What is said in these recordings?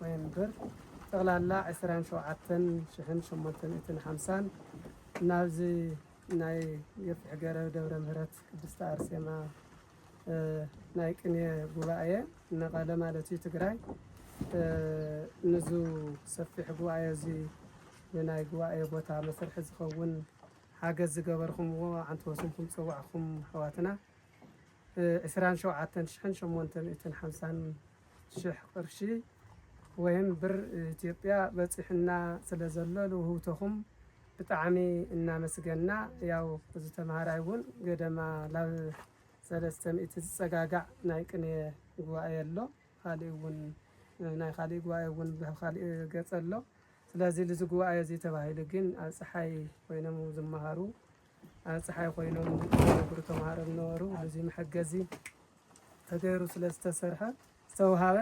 ኖቬምበር ጠቕላላ ዕስራን ሸውዓተን ሽሕን ሸሞንተ ሚእትን ሓምሳን ናብዚ ናይ ገፊሕ ገረብ ደብረ ምህረት ቅድስቲ ኣርሴማ ናይ ቅንየ ጉባኤ መቐለ ማለት እዩ ትግራይ ንዙ ሰፊሕ ጉባኤ እዚ ንናይ ጉባኤ ቦታ መስርሒ ዝኸውን ሓገዝ ዝገበርኹምዎ ዓንቲ ወስንኩም ፀዋዕኹም ኣሕዋትና ዕስራን ሸውዓተን ሽሕን ሸሞንተ ሚእትን ሓምሳን ሽሕ ቅርሺ ወይም ብር ኢትዮጵያ በፂሑና ስለ ዘሎ ልውህውቶኹም ብጣዕሚ እናመስገና ያው እዚ ተምሃራይ እውን ገደማ ላብ ሰለስተ ሚእቲ ዝፀጋጋዕ ናይ ቅኔ ጉባኤ ኣሎ ካሊእ እውን ናይ ካሊእ ጉባኤ እውን ብካሊእ ገፀ ኣሎ ስለዚ ልዚ ጉባኤ እዚ ተባሂሉ ግን ኣብ ፀሓይ ኮይኖም ዝመሃሩ ኣብ ፀሓይ ኮይኖም ዝነብሩ ተምሃሮ ዝነበሩ ልዚ መሐገዚ ተገይሩ ስለ ዝተሰርሐ ዝተውሃበ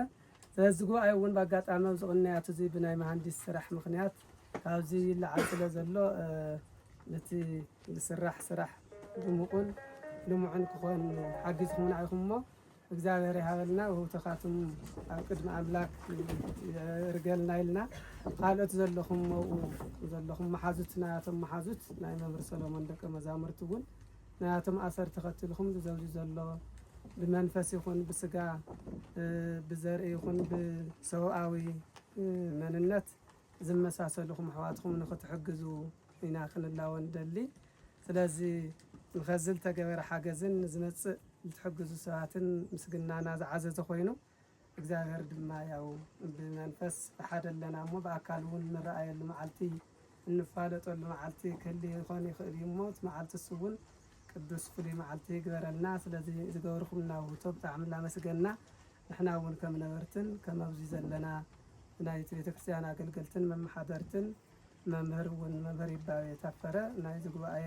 ስለዚ ጉባኤ እውን ብኣጋጣሚ ኣብዚ ቅንያት እዚ ብናይ መሃንዲስ ስራሕ ምክንያት ካብዚ ይለዓል ስለ ዘሎ ነቲ ዝስራሕ ስራሕ ድሙቁን ልሙዕን ክኾን ሓጊዝኹምና ኢኹም እሞ እግዚኣብሔር ይሃበልና ውህብቶኻትም ኣብ ቅድሚ ኣምላክ ርገልና ኢልና ካልኦት ዘለኹም መብኡ ዘለኹም መሓዙትና እቶም መሓዙት ናይ መምህር ሰሎሞን ደቂ መዛሙርቲ እውን ናያቶም ኣሰርቲ ከትሉ ክምዚ ዘብዚ ዘሎ ብመንፈስ ይኹን ብስጋ ብዘርኢ ይኹን ብሰውኣዊ መንነት ዝመሳሰሉኹም ኣሕዋትኹም ንክትሕግዙ ኢና ክንላወ ንደሊ ስለዚ ንከዚ ልተገበረ ሓገዝን ንዝመጽእ ልትሕግዙ ሰባትን ምስግናና ዝዓዘዘ ኮይኑ እግዚኣብሔር ድማ ያው ብመንፈስ ብሓደ ኣለና እሞ ብኣካል እውን እንረኣየሉ መዓልቲ እንፋለጠሉ መዓልቲ ክህሊ ይኾን ይኽእል እዩ እሞ እቲ መዓልቲ እሱ እውን ቅዱስ ፍሉይ መዓልቲ ይግበረልና ስለዚ ዝገብርኩምና ውህቶ ብጣዕሚ እናመስገና ንሕና እውን ከም ነበርትን ከም ኣብዚ ዘለና ናይቲ ቤተ ክርስቲያን ኣገልገልትን መመሓደርትን መምህር እውን መምህር ይባቤ ታፈረ ናይዚ ጉባኤ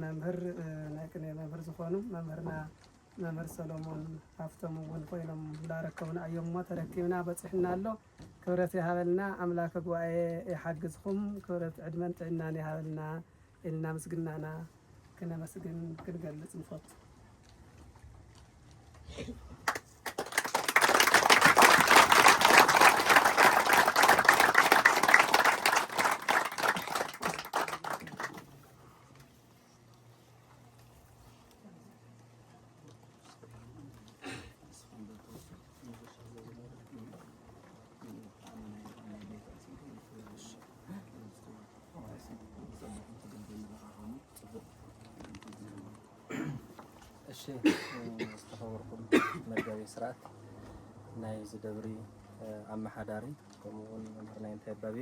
መምህር ናይ ቅኔ መምህር ዝኾኑ መምህርና መምህር ሰሎሞን ሃፍቶም እውን ኮይኖም ላረከቡና እዮም እሞ ተረኪብና በፂሑና ኣሎ ክብረት ይሃበልና ኣምላከ ጉባኤ ይሓግዝኹም ክብረት ዕድመን ጥዕናን ይሃበልና ኢልና ምስግናና ክነመስግን ክንገልፅ ንፈቱ እሺ ዝተኸበርኩም መጋቢ ስርዓት ናይ ዝደብሪ ኣመሓዳሪ ከምኡውን መምህር ናይ እንታይ ባቤ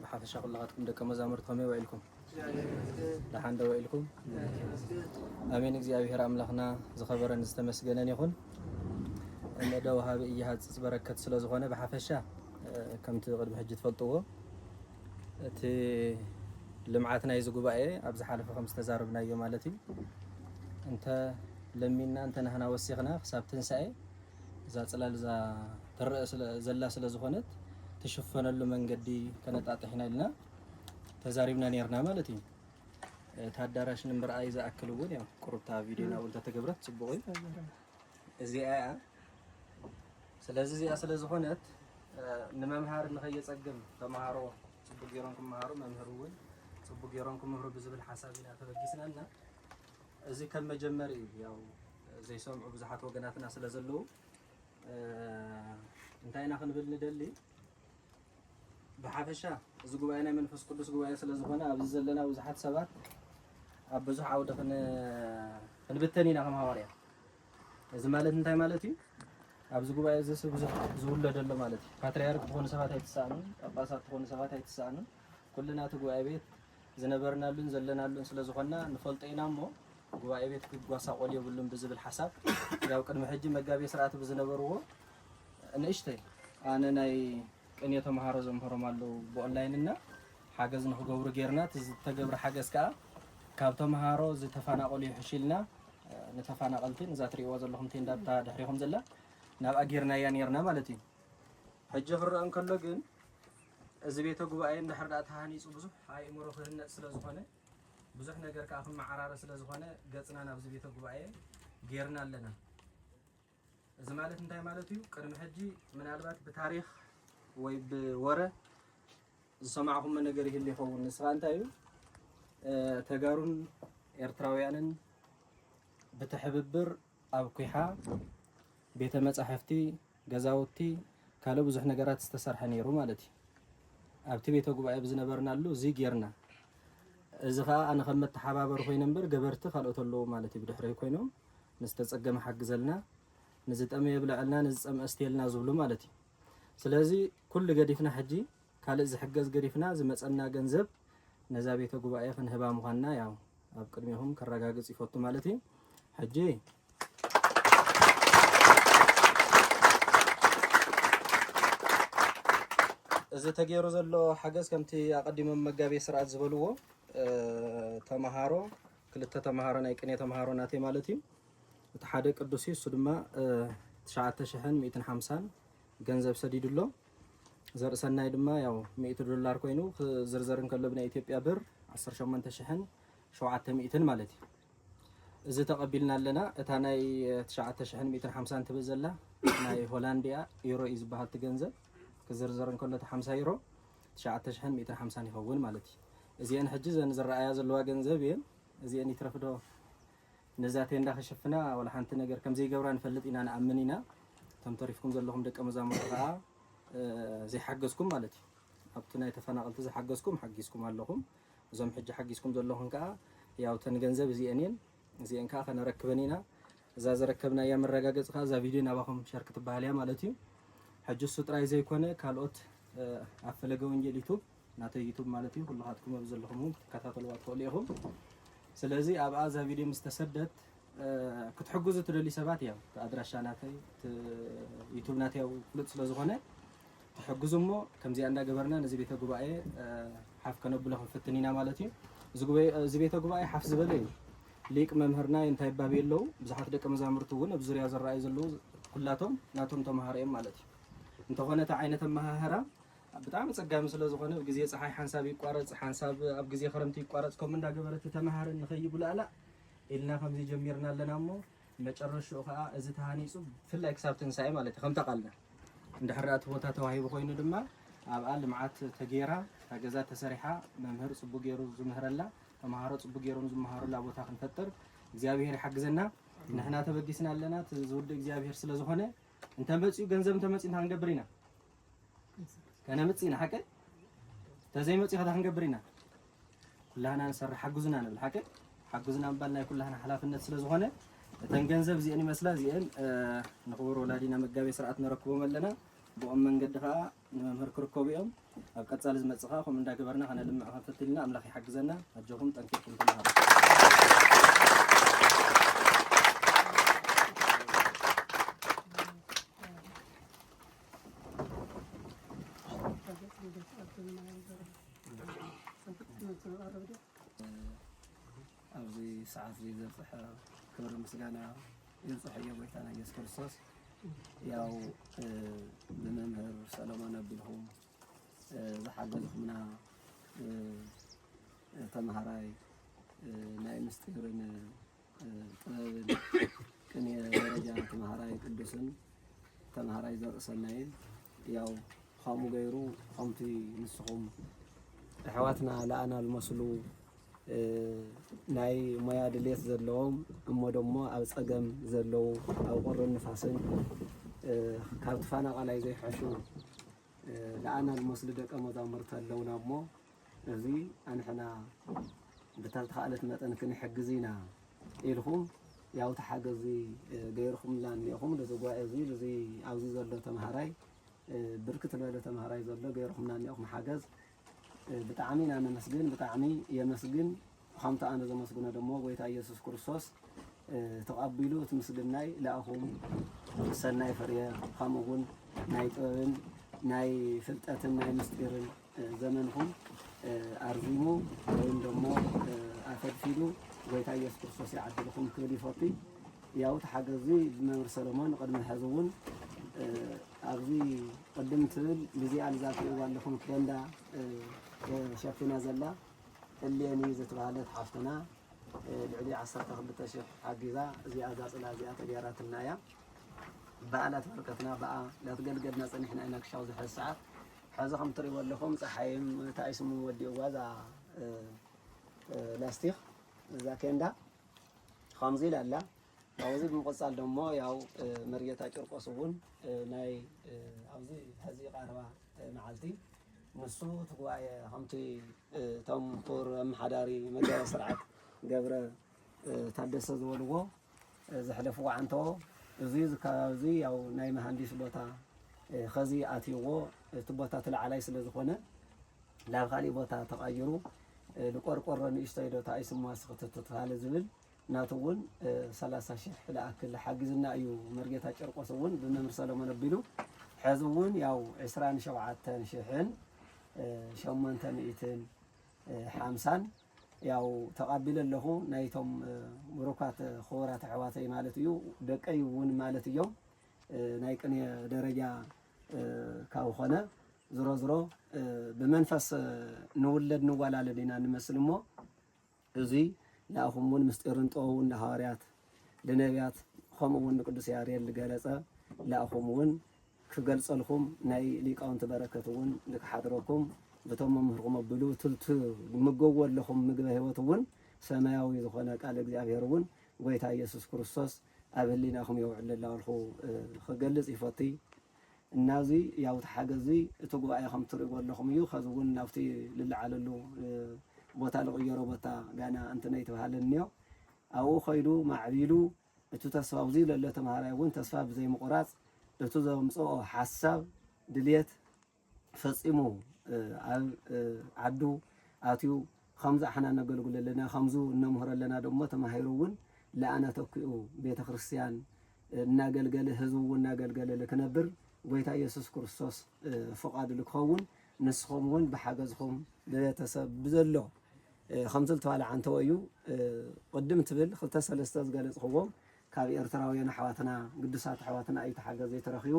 ብሓፈሻ ኩላኻትኩም ደቀ መዛሙርት ከመይ ውዒልኩም? ደሓን ዶ ውዒልኩም? ኣሜን። እግዚኣብሔር ኣምላኽና ዝኸበረን ዝተመስገነን ይኹን። እነደ ወሃቢ እይሃጽጽ በረከት ስለ ዝኾነ ብሓፈሻ ከምቲ ቅድሚ ሕጂ ትፈልጥዎ እቲ ልምዓት ናይዚ ጉባኤ ኣብ ዝሓለፈ ከም ዝተዛረብናዮ ማለት እዩ እንተ ለሚንና እንተ ናህና ወሲኽና ክሳብ ትንሳኤ እዛ ጽላል እዛ ትረኣ ዘላ ስለ ዝኾነት ትሽፈነሉ መንገዲ ከነጣጥሕ ኢና ኢልና ተዛሪብና ነርና ማለት እዩ። እቲ ኣዳራሽ ንምርኣይ ዝኣክል እውን ያው ቁርብታ ቪድዮ ናብ እንተተገብረት ጽቡቕ እዩ። እዚኣ እያ። ስለዚ እዚኣ ስለ ዝኾነት ንመምሃሪ ንኸየጸግም ተምሃሮ ጽቡቕ ገይሮም ክመሃሩ መምህር እውን ጽቡቕ ገይሮም ክምህሩ ብዝብል ሓሳብ ኢና ተበጊስናና እዚ ከም መጀመሪ ያው ዘይሰምዑ ብዙሓት ወገናትና ስለ ዘለዉ እንታይ ኢና ክንብል ንደሊ ብሓፈሻ እዚ ጉባኤ ናይ መንፈስ ቅዱስ ጉባኤ ስለ ዝኾነ ኣብዚ ዘለና ብዙሓት ሰባት ኣብ ብዙሕ ዓውዲ ክንብተን ኢና ከም ሃዋርያ እዚ ማለት እንታይ ማለት እዩ ኣብዚ ጉባኤ እዚ ሰብ ብዙሕ ዝውለድ ኣሎ ማለት እዩ ፓትርያርክ ዝኾኑ ሰባት ኣይትሰኣኑን ጳጳሳት ዝኾኑ ሰባት ኣይትሰኣኑን ኩልና እቲ ጉባኤ ቤት ዝነበርናሉን ዘለናሉን ስለ ዝኾንና ንፈልጦ ኢና እሞ ጉባኤ ቤት ክጓሳቆል የብሉን ብዝብል ሓሳብ ያው ቅድሚ ሕጂ መጋቤ ስርዓት ብዝነበርዎ ንእሽተይ ኣነ ናይ ቅኔ ተምሃሮ ዘምህሮም ኣለዉ ብኦንላይን እና ሓገዝ ንክገብሩ ጌርና እቲ ዝተገብረ ሓገዝ ከዓ ካብ ተምሃሮ ዝተፈናቀሉ ይሕሽ ኢልና ንተፈናቀልቲ ንዛ ትሪእዋ ዘለኹም ቴንዳ እታ ድሕሪኹም ዘላ ናብኣ ጌርናያ ኔርና ማለት እዩ ሕጂ ክረአ እንከሎ ግን እዚ ቤተ ጉባኤ እንድሕር ድኣ ተሃኒፁ ብዙሕ ኣእምሮ ክህነፅ ስለ ዝኾነ ብዙሕ ነገር ከዓ ክመዓራረ ስለ ዝኾነ ገፅና ናብዚ ቤተ ጉባኤ ጌርና ኣለና። እዚ ማለት እንታይ ማለት እዩ? ቅድሚ ሕጂ ምናልባት ብታሪክ ወይ ብወረ ዝሰማዕኹሞ ነገር ይህሉ ይኸውን። ንስኻ እንታይ እዩ ተጋሩን ኤርትራውያንን ብትሕብብር ኣብ ኲሓ ቤተ መጻሕፍቲ፣ ገዛውቲ፣ ካልእ ብዙሕ ነገራት ዝተሰርሐ ነይሩ ማለት እዩ። ኣብቲ ቤተ ጉባኤ ብዝነበርናሉ እዚ ጌርና። እዚ ከኣ ኣነ ከም መተሓባበሪ ኮይነ እምበር ገበርቲ ካልኦት ኣለዉ ማለት እዩ ብድሕረይ ኮይኖም ንዝተጸገመ ሓግዘልና፣ ንዝጠመየ የብለዐልና፣ ንዝጸምአ ኣስትየልና ዝብሉ ማለት እዩ። ስለዚ ኩሉ ገዲፍና ሕጂ ካልእ ዝሕገዝ ገዲፍና ዝመጸና ገንዘብ ነዛ ቤተ ጉባኤ ክንህባ ምዃንና ያው ኣብ ቅድሜኹም ከረጋግጽ ይፈቱ ማለት እዩ። ሕጂ እዚ ተገይሩ ዘሎ ሓገዝ ከምቲ ኣቐዲሞም መጋቤ ስርዓት ዝበልዎ ተምሃሮ ክልተ ተምሃሮ ናይ ቅኔ ተምሃሮ ናተይ ማለት እዩ እቲ ሓደ ቅዱስ እዩ እሱ ድማ ትሽዓተ ሽሕን ሚእትን ሓምሳን ገንዘብ ሰዲዱ ኣሎ። ዘርእሰናይ ድማ ያው ሚእቲ ዶላር ኮይኑ ክዝርዘር እንከሎ ብናይ ኢትዮጵያ ብር ዓሰርተ ሸሞንተ ሽሕን ሸውዓተ ሚእትን ማለት እዩ። እዚ ተቐቢልና ኣለና። እታ ናይ ትሽዓተ ሽሕን ሚእትን ሓምሳን ትብል ዘላ ናይ ሆላንድ እያ፣ ዩሮ እዩ ዝበሃል እቲ ገንዘብ ክዝርዘር እንከሎ እቲ ሓምሳ ዩሮ ትሽዓተ ሽሕን ሚእትን ሓምሳን ይኸውን ማለት እዩ። እዚአን ሕጂ እዘን ዝረኣያ ዘለዋ ገንዘብ እየን። እዚአን ይትረፍዶ ነዛ ቴንዳ ክሽፍና ዋላ ሓንቲ ነገር ከም ዘይገብራ ንፈልጥ ኢና ንኣምን ኢና እቶም ተሪፍኩም ዘለኹም ደቀ መዛሙርቲ ከኣ ዘይሓገዝኩም ማለት እዩ ኣብቲ ናይ ተፈናቐልቲ ዝሓገዝኩም ሓጊዝኩም ኣለኹም እዞም ሕጂ ሓጊዝኩም ዘለኹም ከኣ ያው ተን ገንዘብ እዚኤን እየን እዚኤን ከኣ ከነረክበን ኢና እዛ ዘረከብናያ መረጋገፂ ከኣ እዛ ቪድዮ ናባኹም ሸር ክትበሃል እያ ማለት እዩ ሕጂ እሱ ጥራይ ዘይኮነ ካልኦት ኣብ ፈለገ ወንጌል ዩቱብ ናተይ ዩቱብ ማለት እዩ ኩሉካትኩም ኣብዚ ዘለኹም ውን ክትከታተልዋ ትኽእሉ ኢኹም ስለዚ ኣብኣ እዛ ቪድዮ ምስ ተሰደት ክትሕግዙ ትደልዩ ሰባት ያው እቲ ኣድራሻ ናተይ እቲ ዩቱብ ናተይ ያው ፍሉጥ ስለ ዝኾነ ትሕግዙ እሞ ከምዚኣ እንዳገበርና ነዚ ቤተ ጉባኤ ሓፍ ከነብሎ ክንፍትን ኢና ማለት እዩ እዚ ቤተ ጉባኤ ሓፍ ዝበለ እዩ ሊቅ መምህርና እንታይ ይባብ የለው ብዙሓት ደቂ መዛሙርቲ እውን ኣብ ዙርያ ዝረኣዩ ዘለዉ ኩላቶም ናቶም ተምሃሮ እዮም ማለት እዩ እንተኾነ እቲ ዓይነት ኣመሃህራ ብጣዕሚ ኣጸጋሚ ስለ ዝኾነ ብ ግዜ ጸሓይ ሓንሳብ ይቋረጽ ሓንሳብ ኣብ ግዜ ክረምቲ ይቋረጽ ከምኡ እንዳ ገበረት ተመሃርን ንኸይጉላእላእ ኢልና ከምዚ ጀሚርና ኣለና እሞ መጨረሽኡ ከኣ እዚ ተሃኒጹ ብፍላይ ክሳብ ትንሳኤ ማለት እዩ ከምታ ቃልና እንድሕር እቲ ቦታ ተዋሂቡ ኮይኑ ድማ ኣብኣ ልምዓት ተጌራ እታ ገዛ ተሰሪሓ መምህር ጽቡቅ ገይሩ ዝምህረላ ተመሃሮ ጽቡቅ ገይሮም ዝመሃሩላ ቦታ ክንፈጥር እግዚኣብሄር ይሓግዘና ንሕና ተበጊስና ኣለና ዝውድእ እግዚኣብሄር ስለ ዝኾነ እንተመጽኡ ገንዘብ እንተመጽኡ እንታይ ክንገብር ኢና ከነምጽ ኢና ሓቀይ ተዘይመጽ ከታ ክንገብር ኢና ኩላህና ንሰርሕ ሓግዙና ንብል ሓቀይ ሓግዙና ምባል ናይ ኩላህና ሓላፍነት ስለ ዝኾነ እተን ገንዘብ እዚአን ይመስላ እዚአን ንክቡር ወላዲና መጋቤ ስርዓት ነረክቦም ኣለና ብኦም መንገዲ ከዓ ንመምህር ክርከቡ እዮም ኣብ ቀፃሊ ዝመፅእ ከዓ ከምኡ እንዳገበርና ከነልምዕ ከንፈትል ኢና ኣምላኽ ይሓግዘና ኣጆኹም ጠንኪርኩም ተምሃሩ ኣብዚ ሰዓት እዚ ዘብፅሐ ክብሪ ምስጋና ይብፅሖ እዮ ጎይታና ኢየሱስ ክርስቶስ። ያው ብመምህር ሰለሞን ኣቢልኩም ዝሓገዝኩምና ተምሃራይ ናይ ምስጢርን ጥበብን ቅኔ ደረጃ ተምሃራይ ቅዱስን ተምሃራይ ዘርእሰናይን ያው ከምኡ ገይሩ ከምቲ ንስኹም ኣሕዋትና ለኣና ዝመስሉ ናይ ሞያ ድሌት ዘለዎም እሞ ደሞ ኣብ ፀገም ዘለዉ ኣብ ቁርን ንፋስን ካብ ተፈናቃላይ ዘይሐሹ ለኣና ዝመስሉ ደቀ መዛሙርቲ ኣለውና እሞ እዚ ኣንሕና ብታልተኻእለት መጠን ክንሕግዝ ኢና ኢልኹም ያው ተሓገዚ ገይርኹምልና እኒኤኹም ልዚ ጓኤ እዚ ልዚ ኣብዚ ዘሎ ተምሃራይ ብርክት ዝበለ ተምሃራይ ዘሎ ገይርኹምና እኒኤኹም ሓገዝ ብጣዕሚ ኢና ነመስግን ብጣዕሚ የመስግን ከምቲ ኣነ ዘመስግኖ ደሞ ጎይታ ኢየሱስ ክርስቶስ ተቐቢሉ እቲ ምስግናይ ለኣኹም ሰናይ ፍርየ ከምኡ እውን ናይ ጥበብን ናይ ፍልጠትን ናይ ምስጢርን ዘመንኹም ኣርዚሙ ወይም ደሞ ኣከድፊዱ ጎይታ ኢየሱስ ክርስቶስ ይዓድልኹም ክብል ይፈቱ ያው እቲ ሓገዚ ብመምህር ሰለሞን ቅድሚ ሕዚ እውን ኣብዚ ቅድም ትብል ብዚኣ ልዛትእዋ ኣለኹም ኬንዳ ሸፊና ዘላ እሌኒ ዝትባሃለት ሓፍትና ልዕሊ ዓሰርተ ክልተ ሽሕ ሓጊዛ እዚኣ እዛ ፅላል እዚኣ ተገይራትና እያ ብኣ ላትበርከትና ብኣ ላትገልገልና ፀኒሕና ኢና ክሻው ዝሐዚ ሰዓት ሐዚ ከም ትሪእዎ ኣለኹም ፀሓይም እንታይ ስሙ ወዲእዋ እዛ ላስቲክ እዛ ኬንዳ ከምዚ ኢላ ኣላ ካብዚ ብምቕፃል ደሞ ያው መርጌታ ጭርቆስ እውን ናይ ኣብዚ ሐዚ ቃረባ መዓልቲ ንሱ እቲ ጉባኤ ከምቲ እቶም ክቡር ኣመሓዳሪ መጋቤ ስርዓት ገብረ ታደሰ ዝበልዎ ዘሕለፍዎ ዓንቶ እዚ እዚ ከባቢ እዚ ያው ናይ መሃንዲስ ቦታ ከዚ ኣትይዎ እቲ ቦታ እቲ ላዕላይ ስለ ዝኾነ ናብ ካሊእ ቦታ ተቐይሩ ንቆርቆሮ ንእሽተይ ዶ ተኣይ ስሟስ ክትትትፋለ ዝብል ናቱ እውን ሰላሳ ሽሕ ልኣክል ሓጊዙና እዩ መርጌታ ጨርቆስ እውን ብመምህር ሰለሞን ኣቢሉ ሕዚ እውን ያው ዕስራን ሸውዓተን ሽሕን ሸሞንተ ሚእትን ሓምሳን ያው ተቓቢለ ኣለኹ ናይቶም ብሩካት ክቡራት ኣሕዋተይ ማለት እዩ ደቀይ እውን ማለት እዮም ናይ ቅኔ ደረጃ ካብ ኾነ ዝሮ ዝሮ ብመንፈስ ንውለድ ንዋላለድ ኢና ንመስል እሞ እዙይ ንኣኹም እውን ምስጢርን ጥበቡን ንሃዋርያት ልነብያት ከምኡ እውን ንቅዱስ ያሬድ ልገለጸ ንኣኹም እውን ክገልጸልኩም ናይ ሊቃውንቲ በረከት እውን ልክሓድረኩም ብቶም መምህርኩም ኣብሉ ትምገዎ ኣለኹም ምግበ ህይወት እውን ሰማያዊ ዝኾነ ቃል እግዚኣብሔር እውን ጎይታ ኢየሱስ ክርስቶስ ኣብ ህሊናኹም የውዕል ኣለኹ ክገልጽ ይፈትይ እና እዚ ያው እቲ ሓገዝ እዚ እቲ ጉባኤ ከም እትሪእዎ ኣለኹም እዩ ከዚ እውን ናብቲ ልለዓለሉ ቦታ ልቕየሮ ቦታ ጋና እንትነይ ትብሃለ እንዮ ኣብኡ ከይዱ ማዕቢሉ እቱ ተስፋ ኣብዚ ለሎ ተምሃራይ እውን ተስፋ ብዘይ ምቑራፅ እቱ ዘምፀኦ ሓሳብ ድልየት ፈፂሙ ኣብ ዓዱ ኣትዩ ኸምዚ ኣሕና ነገልግሎ ኣለና ኸምዙ እነምህሮ ኣለና ደሞ ተማሂሩ እውን ልኣና ተኪኡ ቤተ ክርስቲያን እናገልገለ ህዝቡ እውን እናገልገለ ልክነብር ጎይታ ኢየሱስ ክርስቶስ ፍቓዱ ልክኸውን ንስኹም እውን ብሓገዝኹም ብቤተሰብ ብዘሎ ከምዚ ልተባልዓ እንተወዩ ቕድም ትብል ክልተ ሰለስተ ዝገለጽኽዎም ካብ ኤርትራውያን ኣሕዋትና ግዱሳት ኣሕዋትና እዩ ተሓገዝ ዘይተረኪቡ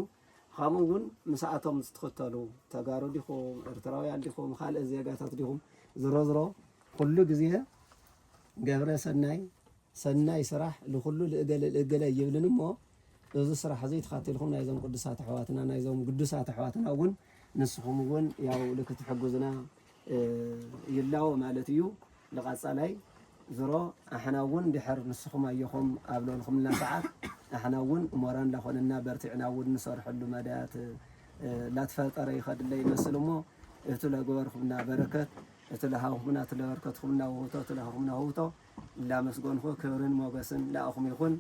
ኻምኡ ውን ምሳኣቶም ዝትክተሉ ተጋሩ ዲኹም ኤርትራውያን ዲኹም ኻልእ ዜጋታት ዲኹም ዝሮዝሮ ኩሉ ግዜ ገብረ ሰናይ ሰናይ ስራሕ ልኹሉ ልእገለ ልእገለ ይብልን እሞ እዚ ስራሕ እዚ ተኻቲልኩም ናይዞም ቅዱሳት ኣሕዋትና ናይዞም ግዱሳት ኣሕዋትና እውን ንስኹም እውን ያው ልክትሕግዙና ይላዎ ማለት እዩ ልቃፃላይ ዝሮ ኣሕና እውን ድሕር ንስኹም ኣዮኹም ኣብ ለልኹምልና ሰዓት ኣሕና እውን እሞራ ላኾነና በርቲዕና እውን ንሰርሐሉ መዳያት ላትፈጠረ ይኸድለ ይመስል እሞ እቱ ለገበርኩምና በረከት እቱ ለሃኹምና እቱ ለበርከትኹምና ውህብቶ እቱ ለሃኹምና ውህብቶ ላመስጎንኹ ክብርን ሞገስን ለኣኹም ይኹን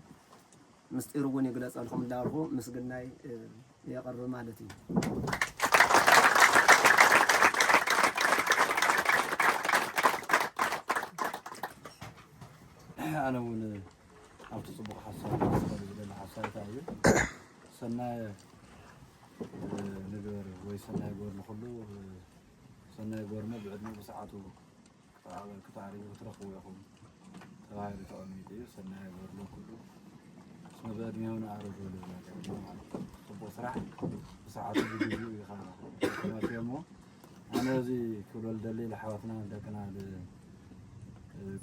ምስጢሩ እውን ይግለፀልኹም ላልኹ ምስግናይ የቕርብ ማለት እዩ። ኣነ እውን ኣብቲ ፅቡቕ ሓሳብ ክስበር ዝደሊ ሓሳብ እንታይ እዩ ሰናይ እ፣ ንግበር ወይ ሰናይ ጎር ንኹሉ እ፣ ሰናይ ጎርመ ብዕድሚኡ ብሰዓቱ ክትዓወት ክትዓርዩ ክትረኽቡ ኢኹም ተባሂሉ ተቐሚጡ እዩ። ሰናይ በርሎ ኩሉ እስመ በዕድሜሁ ንኣረግ በሉ ዝነበረ ማለት እዩ። ጽቡቕ ስራሕ ብሰዓቱ ብግዚኡ እዩ ከዓ ተመርትዮ እሞ ኣነ እዚ ክብሎ ልደሊ ልሓዋትና ደቅና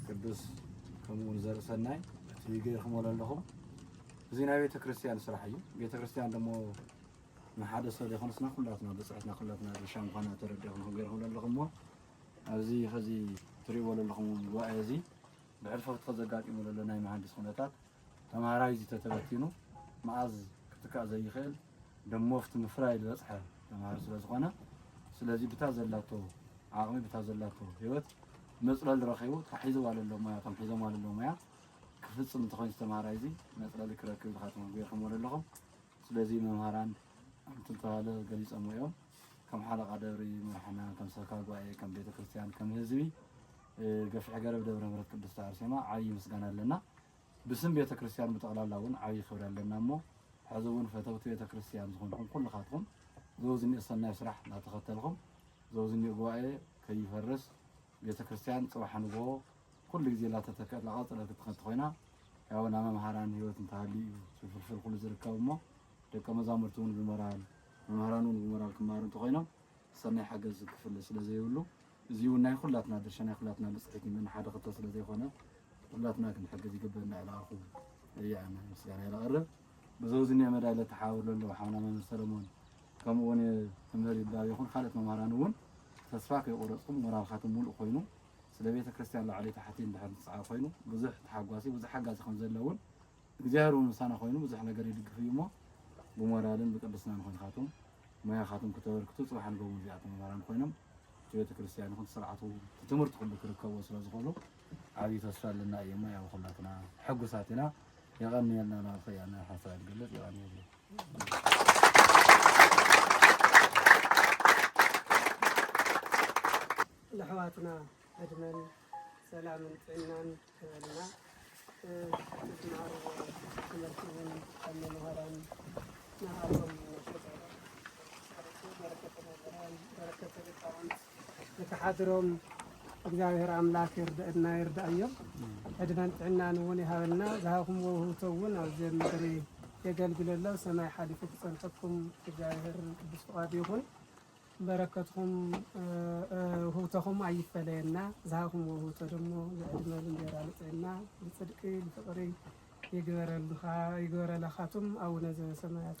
ቅዱስ ከምኡውን ዘርኢ ሰናይ እቲ ገይርክሞ ዘለኹም እዚ ናይ ቤተ ክርስቲያን ስራሕ እዩ። ቤተ ክርስቲያን ደሞ ንሓደ ሰብ ዘይኮነስና ኩላትና ብፅሕትና ኩላትና ድርሻ ምኳና ተረዲኹም ገይርኩም ዘለኹም እሞ ኣብዚ ኸዚ ትሪእዎ ዘለኹም ጉባኤ እዚ ብሕልፊ እቲ ዘጋጢሙ ዘሎ ናይ መሃንዲስ ኩነታት ተምሃራይ እዚ ተተበቲኑ መኣዝ ክትካእ ዘይኽእል ደሞፍት ምፍራይ ዝበፅሐ ተምሃር ስለ ዝኾነ ስለዚ ብታ ዘላቶ ዓቕሚ ብታ ዘላቶ ህይወት መፅለሊ ረኺቡ እታ ሒዝዋ ለሎ ሞያ እቶም ሒዞምዋ ለሎ ሞያ ክፍፅም እንተኾይኑ ተምሃራይ እዚ መፅለሊ ክረክብ ኢልካ ተመጉየኹምዎ ዘለኹም ስለዚ መምሃራን ኣብቲ ዝተባህለ ገሊፆምዎ እዮም። ከም ሓለቓ ደብሪ መራሕና፣ ከም ሰብካ ጉባኤ፣ ከም ቤተክርስትያን፣ ከም ህዝቢ ገፍሒ ገረብ ደብረ ምሕረት ቅድስቲ ኣርሴማ ዓብዪ ምስጋና ኣለና። ብስም ቤተክርስትያን ብጠቕላላ እውን ዓብዪ ክብሪ ኣለና እሞ ሕዚ እውን ፈተውቲ ቤተክርስትያን ዝኾንኩም ኩልኻትኩም ዘውዝኒእ ሰናይ ስራሕ እናተኸተልኩም ዘውዝኒእ ጉባኤ ከይፈርስ ቤተክርስትያን ፅባሕ ንግሆ ኩሉ ግዜ ላተተከ ላቀፀለት ክትኸድ ተኾይና ያው ናብ መምሃራን ህይወት እንተሃልዩ እዩ ፍልፍል ኩሉ ዝርከብ እሞ ደቀ መዛሙርቲ እውን ብሞራል መምህራን እውን ብሞራል ክማሩ እንተኾይኖም ሰናይ ሓገዝ ክፍለ ስለ ዘይብሉ እዚ እውን ናይ ኩላትና ድርሻ ናይ ኩላትና ብፅሒት እዩ ሓደ ክልተ ስለ ዘይኮነ ኩላትና ክንሕግዝ ይግበእ እናዕላኣኹ እያነ ምስጋና የላቕርብ ብዘው ዝኒኦ መዳይ ለተሓባብር ለለዉ ሓውና መምህር ሰለሞን ከምኡ እውን መምህር ይባብ ይኹን ካልኦት መምህራን እውን ተስፋ ከይቆረፅኩም ሞራልካትም ሙሉእ ኮይኑ ስለ ቤተ ክርስቲያን ላዕሊ ታሕቲ እንድሕር ዝጸዓር ኮይኑ ብዙሕ ተሓጓሲ ብዙሕ ሓጋዚ ከም ዘሎ እውን እግዚኣብሔር እውን ምሳና ኮይኑ ብዙሕ ነገር ይድግፍ እዩ እሞ ብሞራልን ብቅድስናን ኮይንካትኩም ሞያኻትኩም ክተበርክቱ ጽባሕ ንገቡ እዚኣቶም መምህራን ኮይኖም እቲ ቤተ ክርስቲያን ይኹን ስርዓቱ እቲ ትምህርቲ ኩሉ ክርከቦ ስለ ዝኾኑ ዓብዪ ተስፋ ኣለና እዩ እሞ ያው ኩላትና ሕጉሳት ኢና የቐንየልና ናብ ኸያና ሓሳብ ዝገልጽ የቐንየሉ ነሕዋትና ዕድመን ሰላምን ጥዕናን ክበልና ዝትማሃርዎ ትምህርቲ እውን ካብ መምሃራን ንዓኹም ነፍቅር በረከተ መምህራን በረከተ ሊቃውንት ንክሓድሮም እግዚኣብሔር ኣምላክ ይርድእና ይርዳእዮም ዕድመን ጥዕናን እውን ይሃበልና ዝሃብኩምዎ ውህብቶ እውን ኣብዚ ኣብ ምድሪ የገልግለሎ ሰማይ ሓሊፉ ክፀንተኩም እግዚኣብሔር ቅዱስ ፍቃዱ ይኹን በረከትኹም ውህብቶኹም ኣይፈለየና ዝሃብኹምዎ ውህብቶ ደሞ ልዕድመ ልንጌራ ልጥዕና ልፅድቂ ልፍቅሪ ይግበረልኻቱም ኣውነ ዘበሰማያት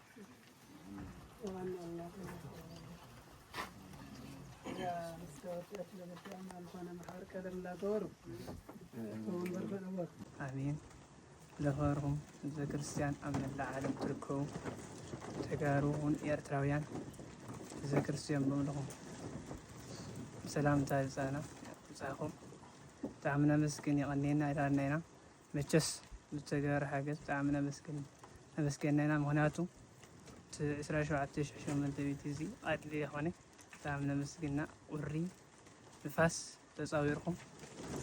ኣሜን ለኸርኹም ህዝበ ክርስትያን ኣብ መላእ ዓለም ትርከቡ ተጋሩ እውን ኤርትራውያን ህዝበ ክርስትያን ብምልኹም ሰላምታ ይብጻና ይብጻኹም ብጣዕሚ ነመስግን የቐንየና ኢላልና ኢና መቸስ ብዝተገበረ ሓገዝ ብጣዕሚ ነመስግን ነመስገና ኢና ምክንያቱ እቲ ዕስራን ሸውዓተን ሽሕ ሸሞንተ ሚእቲ እዚ ቃድሊ የኮነ ብጣዕሚ ነመስግና ቁሪ ንፋስ ተፃዊርኩም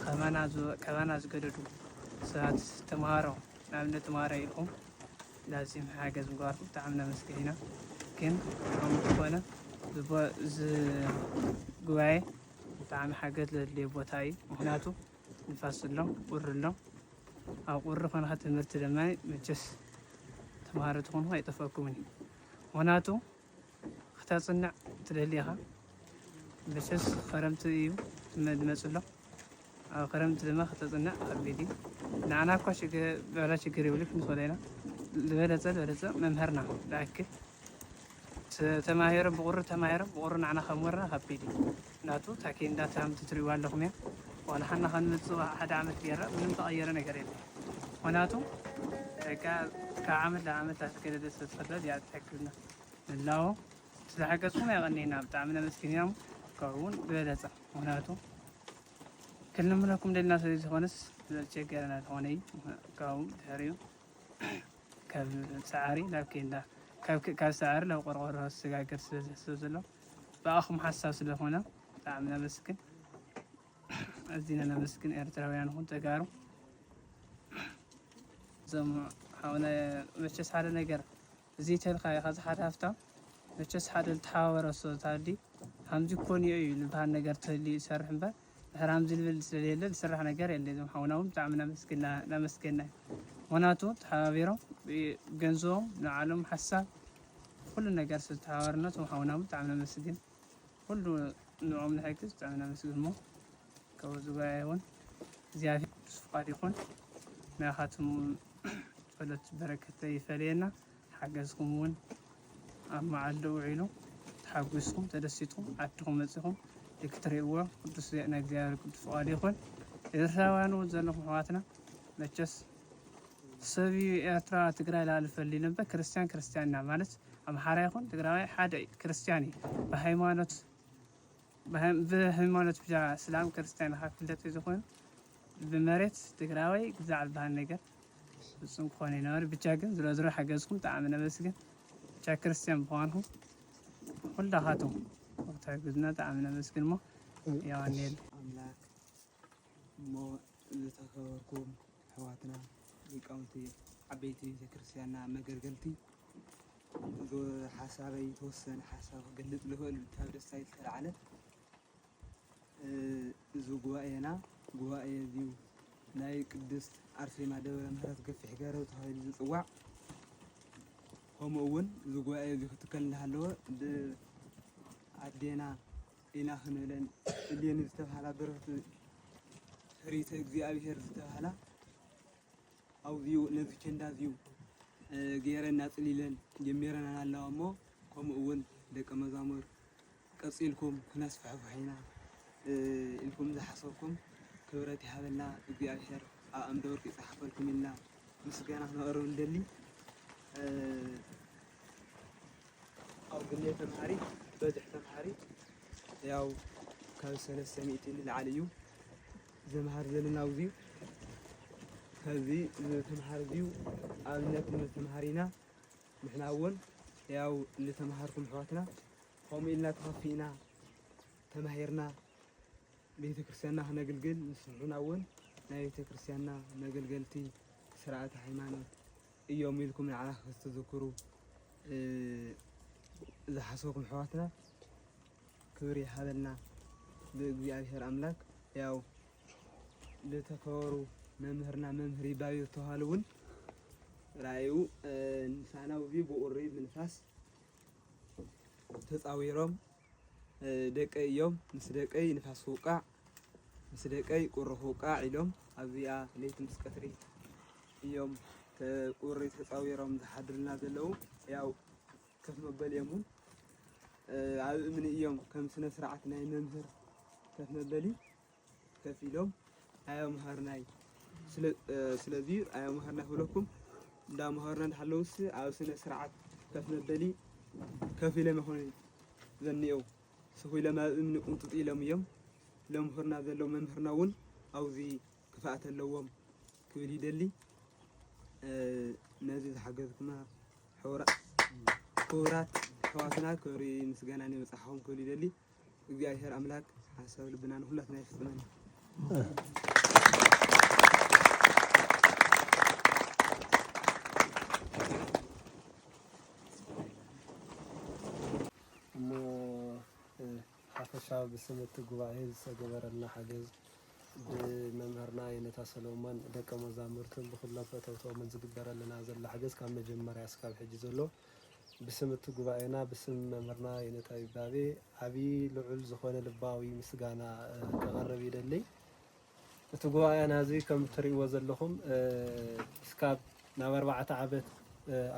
ካባና ዝወ- ካባና ዝገደዱ ሰባት ተምሃሮ ንኣብነት ተምሃሮ ኢልኩም ላዚም ሓገዝ ምግባርኩም ብጣዕሚ ነመስግን ኢና ግን ከምኡ ዝኾነ ዝቦ- እዚ ጉባኤ ብጣዕሚ ሓገዝ ዘድልዮ ቦታ እዩ ምክንያቱ ንፋስ ኣሎ ቁሪ ኣሎ ኣብ ቁሪ ኮንካ ትምህርቲ ድማ መቸስ ተምሃሮ ትኾንኩ ኣይጠፍኣኩምን እዩ ምክንያቱ ክተፅንዕ ትደሊ ኢኻ መቸስ ክረምቲ እዩ መድመፅ ኣሎ ኣብ ክረምቲ ድማ ክተፅንዕ ከቢድ እዩ ንዓና እኳ በላ ችግር የብሉ ክንስወለ ኢና ዝበለፀ ዝበለፀ መምህርና ዝኣክል ተማሂሮም ብቑሪ ተማሂሮም ብቑሪ ንዓና ከምወርና ከቢድ እዩ ምክንያቱ እታ ኬንዳ ትራምት ትሪእዋ ኣለኹም እያ ዋላ ሓና ከንመፅእ ሓደ ዓመት ገይራ ምንም ተቐየረ ነገር የለ ምክንያቱ ካብ ዓመት ናብ ዓመት ኣስገደደ ስለዝፈጥረ እዚኣ ትሕግዝና ንላዎ ስለሓገዝኩም ያቐኒና ብጣዕሚ ነመስግንና ካብኡውን ብበለፀ ምክንያቱ ክንልምነኩም ደልና ስለዝኾነስ ዘጨገረና ዝኾነ እዩ ካብኡ ድሕሪኡ ካብ ሰዓሪ ናብ ኬንዳ ካብ ሰዓሪ ናብ ቆርቆሮ ዝሰጋገር ስለ ዝሕሰብ ዘሎ ብኣኹም ሓሳብ ስለኾነ ብጣዕሚ ነመስግን። ኣዚና ነመስግን ኤርትራውያን ኹን ተጋሩ እዞም ሓውና መቸስ ሓደ ነገር ዘይተልካ ኢካ ዝሓት ሃፍታም መቸስ ሓደ ልተሓባበረ ሶ ታዲ ሃምዚ ኮንዮ እዩ ልብሃል ነገር ተህልዩ ይሰርሕ እምበር ድሕር ሃምዚ ልብል ስለሌለ ልስራሕ ነገር የለ እዞም ሓውና እውን ብጣዕሚ ናመስግና ናመስገና ምክንያቱ ተሓባቢሮም ገንዝቦም ንዓሎም ሓሳብ ኩሉ ነገር ስለተሓባበርና እቶም ሓውና እውን ብጣዕሚ ነመስግን ኩሉ ንዕኦም ንሕግዝ ብጣዕሚ ናመስግን እሞ ክብር ዝጎያየ ይኹን እግዚኣብሔር ቅዱስ ፍቃድ ይኹን ናይኻትኩም ጸሎት በረከት ይፈለየና ሓገዝኩም እውን ኣብ መዓልዶ ውዒሉ ተሓጒስኩም ተደሲትኩም ዓድኹም መጺኹም ክትርእይዎ ቅዱስ ናይ እግዚኣብሔር ቅዱስ ፍቃድ ይኹን ኤርትራውያን እውን ዘለኹም ኣሕዋትና መቸስ ሰብ እዩ ኤርትራ ትግራይ ላል ፈሊ ነበር ክርስቲያን ክርስቲያንና ማለት ኣምሓራ ይኹን ትግራዋይ ሓደ ክርስቲያን እዩ ብሃይማኖት ብሀይማኖት ብቻ እስላም ክርስትያን ኢካ ክፍለጥ እዩ ዝኮን ብመሬት ትግራዋይ ግዛዕ ዝባሃል ነገር ፍፁም ክኮን ይነበር ብቻ ግን ዝሮ ዝሮ ሓገዝኩም ብጣዕሚ ነመስግን ብቻ ክርስትያን ብኳንኩም ኩላካትኩም ክትሕግዙና ብጣዕሚ ነመስግን እሞ ያዋንየሉ ኣምላክ እሞ ዝተከበርኩም ኣሕዋትና ሊቃውንቲ ዓበይቲ ቤተክርስትያንና መገልገልቲ ንጉዕዞ ሓሳበይ ተወሰነ ሓሳብ ክገልፅ ልኽእል ካብ ደስታይ ዝተልዓለ እዚ ጉባኤና ጉባኤ እዚዩ ናይ ቅድስት ኣርሴማ ደብረ ምህረት ገፊሕ ገረብ ተባሂሉ ዝፅዋዕ ከምኡ እውን እዚ ጉባኤ እዚ ክትከል እናሃለወ ብኣዴና ኢና ክንብለን እሌኒ ዝተባሃላ በረኽቲ ፍሪተ እግዚኣብሄር ዝተባሃላ ኣውዚኡ ነዚ ቸንዳ እዚዩ ገይረን ኣጽሊለን ጀሚረናን ኣለዋ እሞ ከምኡ እውን ደቂ መዛሙር ቀጺልኩም ክነስፍሕፍሕ ኢና ኢልኩም ዝሓሰብኩም ክብረት ይሃበልና እግዚኣብሔር ኣብ ኣምደ ወርቅ ይጽሓፈልኩም ኢልና ምስጋና ክነቕርብ ንደሊ ኣብ ግሌ ተምሃሪት በዝሒ ተምሃሪት ያው ካብ ሰለስተ ሚእቲ ንላዕሊ እዩ ዘምሃር ዘለና ኣብዙይ ከዚ ዝተምሃር እዙይ ኣብነት ተምሃሪና ንሕና እውን ያው ዝተምሃርኩም ኣሕዋትና ከምኡ ኢልና ተኸፊእና ተማሂርና ቤተ ክርስቲያንና ክነግልግል ንስንሑና እውን ናይ ቤተ ክርስቲያንና መገልገልቲ ስርዓተ ሃይማኖት እዮም ኢልኩም ንዓና ክተዘክሩ ዝሓሰብኩም ኣሕዋትና ክብሪ ይሃበልና ብእግዚኣብሔር ኣምላክ ያው ልተከበሩ መምህርና መምህር ይባቤ ተዋህል እውን ራእዩ ንሳና ውቢ ብኡሪ ምንፋስ ተፃዊሮም ደቀይ እዮም ምስ ደቀይ ንፋስ ክውቃዕ ምስ ደቀይ ቁሪ ክውቃዕ ኢሎም ኣብዚኣ ለይቲ ምስ ቀትሪ እዮም ቁሪ ተፃዊሮም ዝሓድሩልና ዘለው ያው ከፍ መበሊ እዮም እውን ኣብ እምኒ እዮም ከም ስነ ስርዓት ናይ መምህር ከፍ መበሊ ከፍ ኢሎም ኣያምሃርናይ ስለዚ ኣያምሃርና ክብለኩም እንዳምሃርና እንዳሃለውስ ኣብ ስነ ስርዓት ከፍ መበሊ ከፍ ኢሎም ይኾኑ ዘኒኤው ስኹ ኢሎም ኣብ እምኒ ቁንጥጥ ኢሎም እዮም ለምህርና ዘለዉ መምህርና እውን ኣብዚ ክፍኣት ኣለዎም ክብል ይደሊ ነዚ ዝሓገዝኩምና ክቡራት ኣሕዋትና ክብሪ ምስጋናን ይብጻሕኹም ክብል ይደሊ እግዚኣብሔር ኣምላክ ሓሳብ ልብና ንኩላትና ይፍጽመና ሓፈሻዊ ብስም እቲ ጉባኤ ዝተገበረልና ሓገዝ ብመምህርና የኔታ ሰሎሞን፣ ደቀ መዛሙርቱን ብኹሎም ፈተውቶምን ዝግበረልና ዘሎ ሓገዝ ካብ መጀመርያ እስካብ ሕጂ ዘሎ ብስም እቲ ጉባኤና ብስም መምህርና የኔታ ይባቤ ዓብዪ ልዑል ዝኾነ ልባዊ ምስጋና ከቐርብ ይደልይ። እቲ ጉባኤና እዚ ከም እትሪእዎ ዘለኹም እስካብ ናብ ኣርባዕተ ዓመት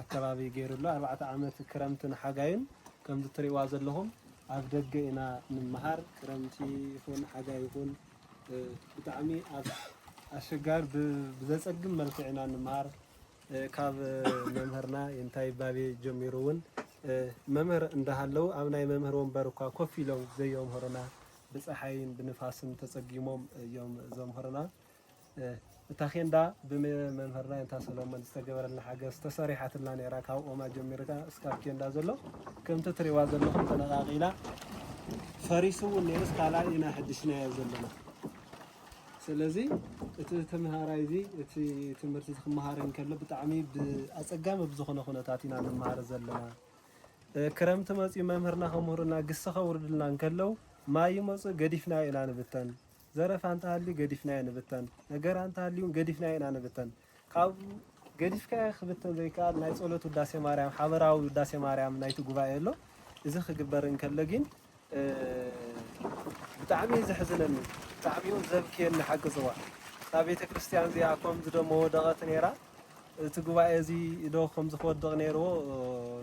ኣከባቢ ገይሩ ኣሎ። ኣርባዕተ ዓመት ክረምትን ሓጋይን ከምዚ እትሪእዋ ዘለኹም ኣብ ደገ ኢና እንመሃር። ክረምቲ ይኹን ሓጋይ ይኹን ብጣዕሚ ኣብ ኣሸጋሪ ብዘፀግም መልክዕ ኢና እንመሃር። ካብ መምህርና ይንታይ ባቤ ጀሚሩ እውን መምህር እንዳሃለው ኣብ ናይ መምህር ወንበር እኳ ኮፍ ኢሎም ዘየምህሩና ብጸሓይን ብንፋስን ተጸጊሞም እዮም ዘምህሩና። እታ ኬንዳ ብመምህርና የንታ ሰሎሞን ዝተገበረልና ሓገዝ ተሰሪሓትልና ነይራ። ካብ ኦማ ጀሚርካ እስካብ ኬንዳ ዘሎ ከምቲ ትሪእዋ ዘለኹም ተነቃቂላ ፈሪሱ እውን ነይሩስ ካልኣይ ኢና ሕድሽናዮ ዘለና። ስለዚ እቲ ተምሃራይ እዚ እቲ ትምህርቲ ክመሃር እንከሎ ብጣዕሚ ብኣፀጋሚ ብዝኾነ ኩነታት ኢና ንመሃር ዘለና። ክረምቲ መፅዩ መምህርና ከምህሩና ግሲ ከውርዱልና እንከለው ማይ ይመፁ ገዲፍናዮ ኢና ንብተን ዘረፋ እንተሃልዩ ገዲፍናዮ ንብተን ነገራ እንተሃልዩ ውን ገዲፍናዮ ኢና ንብተን ካብ ገዲፍካዮ ክብተን ዘይከኣል ናይ ፀሎት ውዳሴ ማርያም ሓበራዊ ውዳሴ ማርያም ናይቲ ጉባኤ ኣሎ እዚ ክግበር እንከሎ ጊን ብጣዕሚ እዩ ዘሕዝነኒ ብጣዕሚ እውን ዘብክየኒ ሓቂ ዝዋ እታ ቤተ ክርስትያን እዚኣ ከምዚ ዶ ምወደቐት ነይራ እቲ ጉባኤ እዚ ዶ ከምዚ ክወድቕ ነይርዎ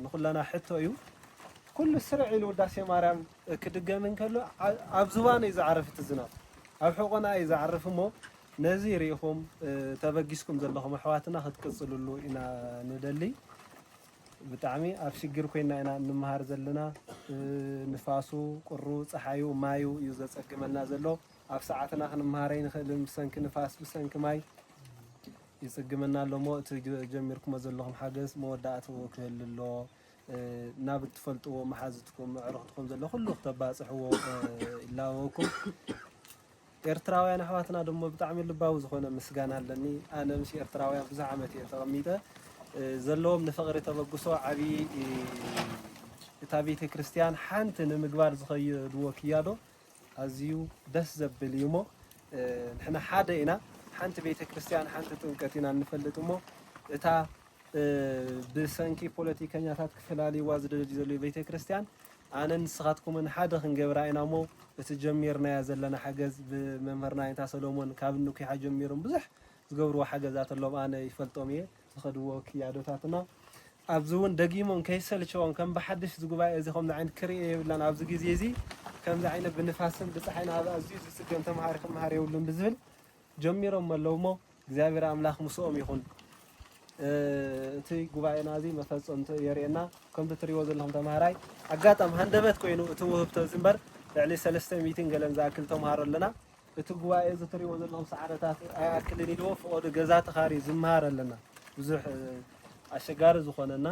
ንኹለና ሕቶ እዩ ኩሉ ስርዕ ኢሉ ውዳሴ ማርያም ክድገም እንከሎ ኣብ ዝባኑ እዩ ዝዓርፍ እቲ ዝናብ ኣብ ሕቖና እዩ ዝዓርፍ እሞ ነዚ ርኢኹም ተበጊስኩም ዘለኹም ኣሕዋትና ክትቅፅልሉ ኢና ንደሊ ብጣዕሚ ኣብ ሽግር ኮይና ኢና እንመሃር ዘለና ንፋሱ ቁሩ ጸሓዩ ማዩ እዩ ዘጸግመና ዘሎ ኣብ ሰዓትና ክንመሃር ኣይንኽእልን ብሰንኪ ንፋስ ብሰንኪ ማይ ይጽግመና ኣሎ እሞ እቲ ጀሚርኩሞ ዘለኹም ሓገዝ መወዳእትኡ ክህሉ ኣሎ ናብ እትፈልጥዎ መሓዝትኩም ኣዕሩኽትኩም ዘሎ ኩሉ ክተባጽሕዎ ይላበወኩም ኤርትራውያን ኣሕዋትና ደሞ ብጣዕሚ ልባዊ ዝኾነ ምስጋና ኣለኒ ኣነ ምስ ኤርትራውያን ብዙሕ ዓመት እየ ተቐሚጠ ዘለዎም ንፍቕሪ ተበግሶ ዓቢ እታ ቤተክርስትያን ሓንቲ ንምግባር ዝኸየድዎ ክያዶ ኣዝዩ ደስ ዘብል እዩ እሞ ንሕና ሓደ ኢና ሓንቲ ቤተክርስትያን ሓንቲ ጥምቀት ኢና እንፈልጥ እሞ እታ ብሰንኪ ፖለቲከኛታት ክፈላልይዋ ዝደልዩ ዘለዉ ቤተክርስትያን ኣነን ንስኻትኩምን ሓደ ክንገብራ ኢና እሞ እቲ ጀሚርናዮ ዘለና ሓገዝ ብመምህርና ኣይንታ ሰሎሞን ካብ እንኲሓ ጀሚሮም ብዙሕ ዝገብርዎ ሓገዛት ኣሎም ኣነ ይፈልጦም እየ ዝኸድዎ ክያዶታትና ኣብዚ እውን ደጊሞም ከይሰልቸዎም ከም ብሓድሽ እዚ ጉባኤ እዚ ከምዚ ዓይነት ክርኢ የብላን ኣብዚ ግዜ እዚ ከምዚ ዓይነት ብንፋስን ብፀሓይን ኣብ ኣዝዩ ዝፅገም ተምሃሪ ክምሃር የብሉን ብዝብል ጀሚሮሞ ኣለዉ እሞ እግዚኣብሔር ኣምላክ ምስኦም ይኩን እቲ ጉባኤና እዚ መፈፀምትኡ የርእየና ከምቲ እትሪእዎ ዘለኩም ተምሃራይ ኣጋጣሚ ሃንደበት ኮይኑ እቲ ውህብቶ እዚ እምበር ልዕሊ ሰለስተ ሚእትን ገለን ዝኣክል ተምሃሮ ኣለና እቲ ጉባኤ እዚ እትሪእዎ ዘለኩም ሰዓረታት ኣይኣክልን ኢልዎ ፍቆዱ ገዛ ተካርዩ ዝምሃር ኣለና ብዙሕ ኣሸጋሪ ዝኮነና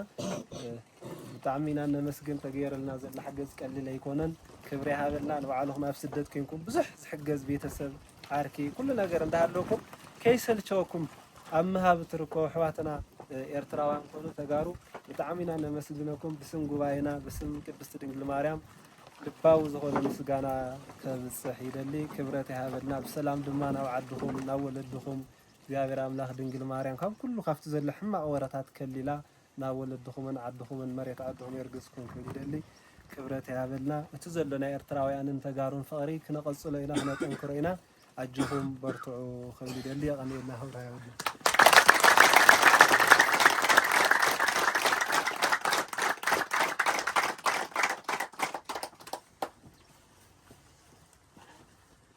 ብጣዕሚ ኢና እነመስግን ተገይርልና ዘሎ ሓገዝ ቀሊል ኣይኮነን ክብሪ ይሃበልና ንባዕልኹም ኣብ ስደት ኮይንኩም ብዙሕ ዝሕገዝ ቤተሰብ ዓርኪ ኩሉ ነገር እንዳሃለኩም ከይሰልቸወኩም ኣብ ምሃብ እትርከቡ ኣሕዋትና ኤርትራውያን ኮኑ ተጋሩ ብጣዕሚ ኢና እነመስግነኩም ብስም ጉባኤና ብስም ቅድስቲ ድንግል ማርያም ልባዊ ዝኾነ ምስጋና ከብፅሕ ይደሊ ክብረት ይሃበልና ብሰላም ድማ ናብ ዓድኹም ናብ ወለድኹም እግዚኣብሔር ኣምላኽ ድንግል ማርያም ካብ ኩሉ ካብቲ ዘሎ ሕማቕ ወረታት ከሊላ ናብ ወለድኹምን ዓድኹምን መሬት ኣድኹም የርግጽኩም ክብል ይደሊ። ክብረት ይሃበልና። እቲ ዘሎ ናይ ኤርትራውያንን ተጋሩን ፍቕሪ ክነቐጽሎ ኢና ክነጠንክሮ ኢና። ኣጆኹም በርትዑ ክብል ይደሊ። የቐንየልና ክብሪ ሃበልና።